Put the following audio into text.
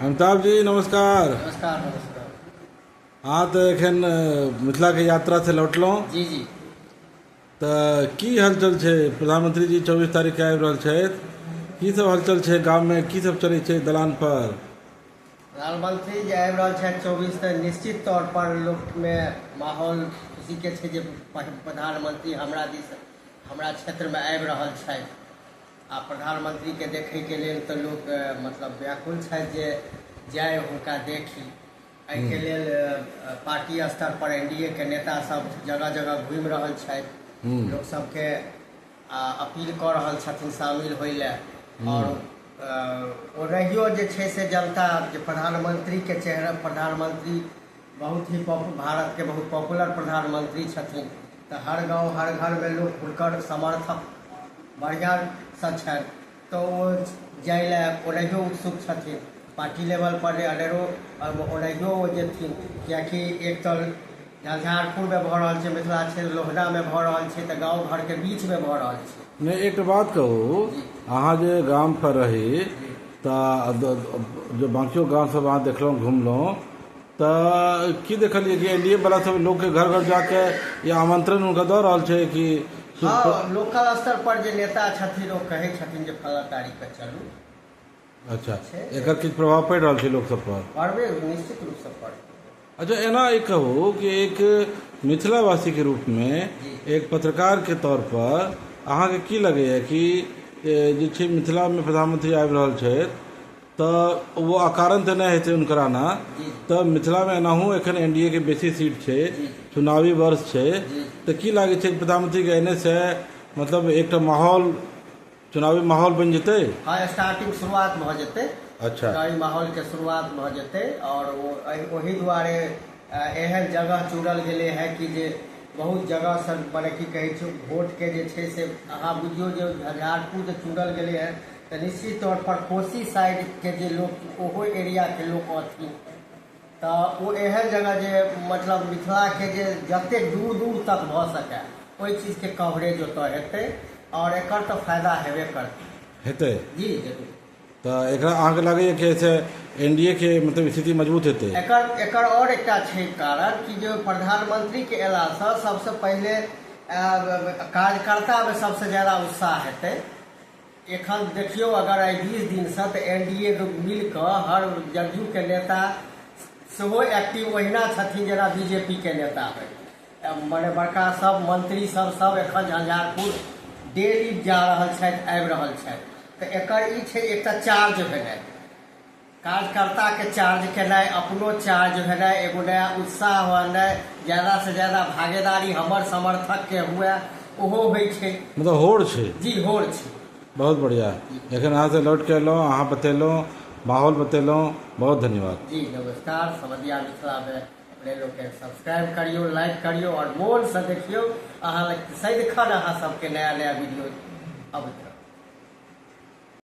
अमिताभ जी नमस्कार नमस्कार नमस्कार हाँ तो एखन मिथिला के यात्रा से लौटलहुँ जी जी तऽ की हलचल छै प्रधानमंत्री जी चौबीस तारीख के आबि रहल छथि की सब हलचल छै गाम में की सब चलै छै दलान पर प्रधानमंत्री जे आबि रहल छथि चौबीस तऽ निश्चित तौर पर लोक मे माहौल खुशी के छै जे प्रधानमंत्री हमरा दिस हमरा क्षेत्र मे आबि रहल छथि आ प्रधानमंत्री के देखय के लेल त लोक मतलब व्याकुल छथि जे जाय हुनका देखी। एहि के लेल पार्टी स्तर पर एनडीए के नेता सब जगह-जगह घूमि रहल छथि। लोक सब के आ अपील क रहल छथिन शामिल होय ले आओर ओनहियो जे छै से जनता जे प्रधानमंत्री के चेहरा प्रधानमंत्री। बहुत ही पॉप भारत के बहुत पॉपुलर प्रधानमंत्री छथिन तऽ हर गांव हर घर में लोग हुनकर समर्थक बढ़िया सँ छनि तऽ ओ जाय लए ओनाहियो उत्सुक छथिन पार्टी लेवल पर अनेरो ओनाहियो ओ जेथिन कियाकि एक तऽ झंझारपुर में भऽ रहल छै मिथिला क्षेत्र लोहना में भऽ रहल छै तऽ गांव घर के बीच में भऽ रहल छै नहि एकटा बात कहू अहाँ जे गामपर रही तऽ द- द- जे बाँकियो गामसभ अहाँ देखलहुँ घुमलहुँ तऽ की देखलियै कि एनडीए वाला सब लोग के घर घर जाके या आमंत्रण उनका दऽ रहल छै कि हँ लोकल स्तर पर जे नेता छथिन ओ कहै छथिन जे फला तारीख के चलू अच्छा छै। एकर किछु प्रभाव पड़ि रहल छै लोक सब पर पढ़बे निश्चित रूप से पढ़ अच्छा एना ई कहू कि एक मिथिलावासी के रूप में एक पत्रकार के तौर पर अहाँके की लगैया कि ए, जे छै मिथिला में प्रधानमंत्री आबि रहल छथि तऽ ओ अकारण तऽ नहि हेतै हुनकर आना तऽ मिथिलामे एनाहू एखन एन डी ए के बेसी सीट छै चुनावी वर्ष छै तऽ की लागै छै प्रधानमंत्रीके एनेसँ मतलब एकटा माहौल चुनावी माहौल बनि जेतै हँ स्टार्टिंग शुरुआत भऽ जेतै अच्छा चुनावी माहौलके शुरुआत भऽ जेतै आओर ओ ओहि दुआरे एहन जगह चुनल गेलै हँ कि जे बहुत जगह सभ मने की कहै छै वोटके जे छै से अहाँ बुझियौ जे झंझारपुर जे चुनल गेलै हँ तऽ निश्चित तौर पर कोशी साइडके जे लोक ओहो एरियाके लोक अथी तऽ ओ एहन जगह जे मतलब मिथिलाके जे जतेक दूर दूर तक भऽ सकए ओहि चीजके कवरेज ओतऽ हेतै आओर एकर तऽ फायदा हेबे करतै हेतै जी जरूर तऽ एकरा अहाँके लगैए कि एहिसँ एन डी एके मतलब स्थिति मजबूत हेतै एकर एकर आओर एकटा छै कारण कि जे प्रधानमंत्रीके अयलासँ सभसँ पहिले कार्यकर्तामे सभसँ ज्यादा उत्साह हेतै एखन देखियौ अगर एहि बीस दिनसँ तऽ एन डी ए मिल कऽ हर जदयूके नेता सेहो एक्टिव ओहिना छथिन जेना बी जे पी के नेता होइ मने बड़का सब मंत्री सब सब एखन झंझारपुर डेली जा रहल छथि आबि रहल छथि तऽ एकर ई छै एकटा चार्ज भेनाइ कार्यकर्ताके चार्ज केनाइ अपनो चार्ज भेनाइ एगो नया उत्साह होनाइ ज्यादासँ ज्यादा भागीदारी हमर समर्थकके हुए ओहो होइ छै मतलब होड़ छै जी होड़ छै बहुत बढ़िया जखन अहाँ से लौट के एलहुँ अहाँ बतेलहुँ माहौल बतेलहुँ बहुत धन्यवाद जी नमस्कार समझिया मिथिलामे अपने लोकके सब्सक्राइब करियो लाइक करियो और मोल से देखियो अहाँ लग सदिखन अहाँ सबके नया नया वीडियो अब